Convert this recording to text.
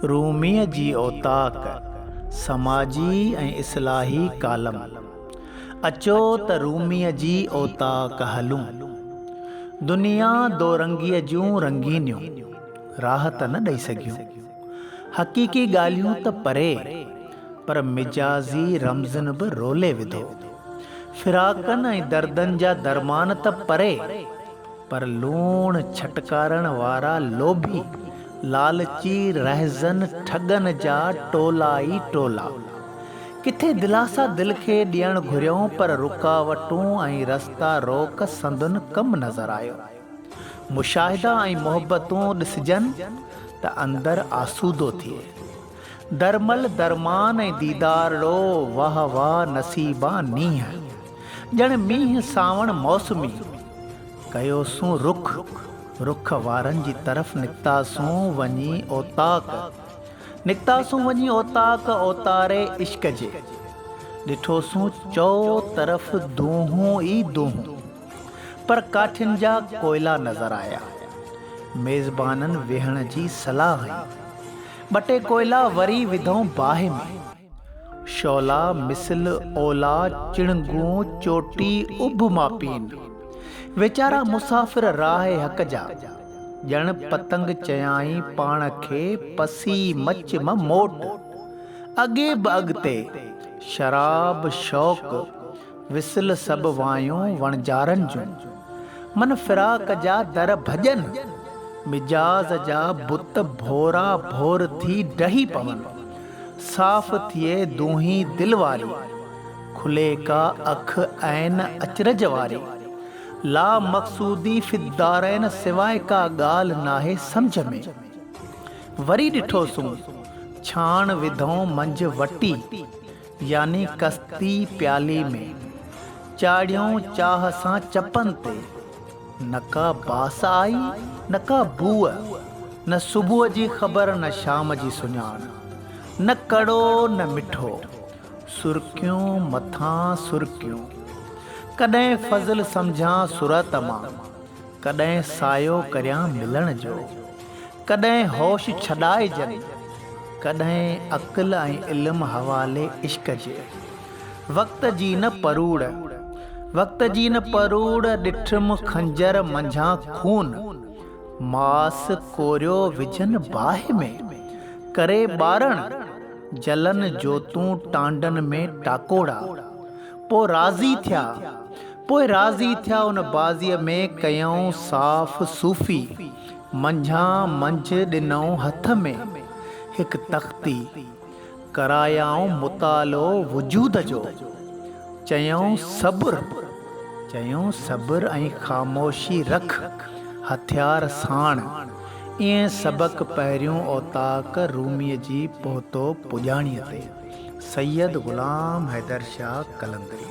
روميء جي اوطاق، سماجي ۽ اصلاحي ڪالم. اچو ته روميء جي اوطاق هلون. دنيا دورنگيء جون رنگينيون راهه ته نه ڏئي سگهيون. حقيقي ڳالهيون ته پري، پر مجازي رمزن به رولي وڌو. فراقن ۽ دردن جا درمان ته پري، پر لوڻ ڇٽڪارڻ وارا لوڀي، لالچي رهزن ٺڳن جا ٽولا ئي ٽولا. ڪٿي دلاسا دل کي ڏيڻ گهريائون پر رڪاوٽون ۽ رستا روڪ سندن ڪم نظر آيو. مشاهدا ۽ محبتون ڏسجن ته اندر آسودو ٿئي. درمل درمان ۽ ديدار ڙو واهه واهه نصيبا نينهن ڄڻ مينهن سانوڻ موسمي ڪيوسون رخ رخ وارن جي طرف نڪتاسون وڃي اوطاق نڪتاسون وڃي اوطاق اوتاري عشق جي ڏٺوسون چئو طرف دونهون ئي دونهون. پر ڪاٺين جا ڪوئلا نظر آيا. ميزبانن ويهڻ جي صلاح هنئي. ٻه ٽي ڪوئلا وري وڌئون باهه ۾. شعلا مثل اولا چڻنگون چوٽي اڀ مان پين. ويچارا مسافر راهه حق جا. ڄڻ پتنگ چيائين پاڻ کي پسي مچ م موٽ. اڳي به اڳتي، شراب، شوق، وصل سڀ وايون وڻجارن جون. من فراق جا در ڀڄن. مجاز جا بت ڀورا ڀور ٿي ڊهي پون. صاف ٿئي دونهي دل واري. کلي ڪا اک عين اچرج واري. لا مقصودي في الدارين سواء ڪا ڳالهه ناهي سمجهه ۾. وري ڏٺوسون ڇاڻ وڌئون منجهه وٽي. يعني ڪستي پيالي ۾، چاڙهيون چاهه سان چپن تي، نه ڪا باس آئي نه ڪا بوء، نه صبح جي خبر نه شام جي سڃاڻ، نه ڪڙو نه مٺو، سرڪيون مٿان سرڪيون، ڪڏهن فضل سمجهان سرعت مان، ڪڏهن سايو ڪريان ملڻ جو. ڪڏهن هوش ڇڏائجن. ڪڏهن عقل ۽ علم حوالي عشق جي. وقت جي نه پروڙ. وقت جي نه پروڙ ڏٺم خنجر منجهان خون. ماس ڪوريو وجهن باهه ۾. ڪري ٻارڻ. جلن جوتون ٽانڊن ۾ ٽاڪوڙا. پوء راضي ٿيا، پوء راضي ٿيا ان بازيء ۾ ڪيئون صاف صوفي، منجهان منجهه ڏنئون هٿ ۾ هڪ تختي، ڪرايائون مطالعو وجود جو، چيئون صبر، چيئون صبر ۽ خاموشي رک هٿيار ساڻ، ايئن سبق پهريون اوطاق روميء جي پهتو پڄاڻيء تي. سيد غلام حيدر شاهه قلندري.